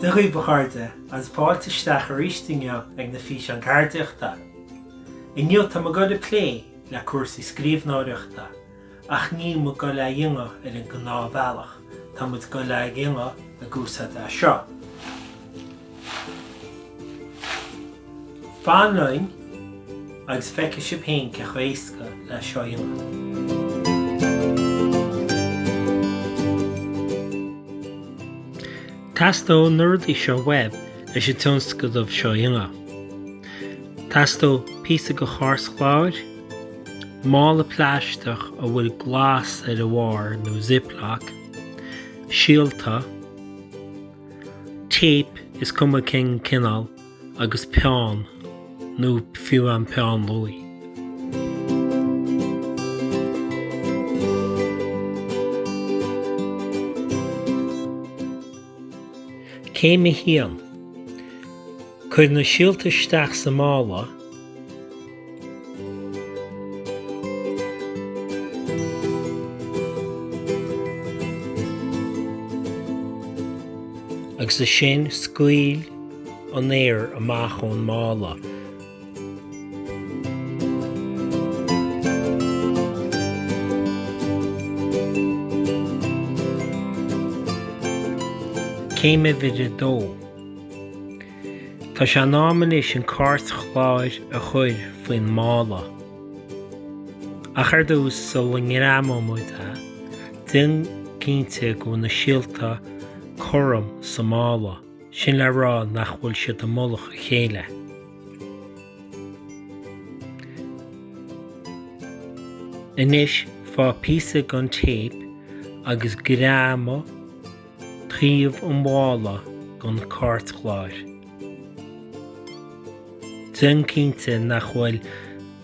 Dia dhaoibh a chairde agus fáilte isteach arís inniu ag na Físeáin Ceardaíochta. Inniu tá muid ag goil ag plé le cúrsaí scríbhneoireachta Ach níl muid ag goil á dhéanamh ar an ngnáthbhealach, tá muid ag goil á dhéanamh ag úsáid é seo. Fan linn agus feicfidh sibh féin cé chomh éasca é seo a dhéanamh. Teastóidh na rudaí seo uaibh leis an tionscnamh seo a dhéanamh. Teastóidh píosa de chairtchlár, mála plaisteach a bhfuil glas ar a bharr nó ziplock, síolta, téip is cuma cén cineál agus peann nó fiú an peann luaí. Céim 1. Cuir na síolta isteach sa mála. agus ansin scaoil an aer amach ón mála. Céim a Dó Tá sé in am anois an cairtchlár a chur faoin mála. Ach ar dtús, sula ngreamóidh muid é, déan cinnte go bhfuil na síolta cothrom sa mála. sin le rá nach bhfuil siad i mullach a chéile. Anois faigh píosa den téip agus greamaigh taobh an mhála don chairtchlár. Déan cinnte nach bhfuil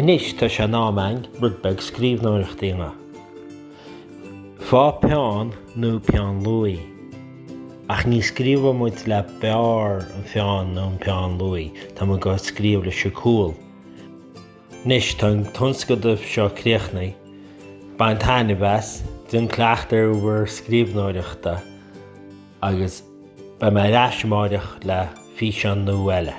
Anois tá sé in am againn rud beag scríbhneoireacht a dhéanamh. Faigh peann nó peann luaí. Ach ní scríobhfaidh muid le barr an pheann nó an peann luaí, tá muid ag scríobh leis an gcúl. Anois tá an tionscnamh seo críochnaithe, bain taitneamh as, déan cleachtadh ar bhur scríbhneoireachta agus beidh mé ar ais amárach le físeán nua eile.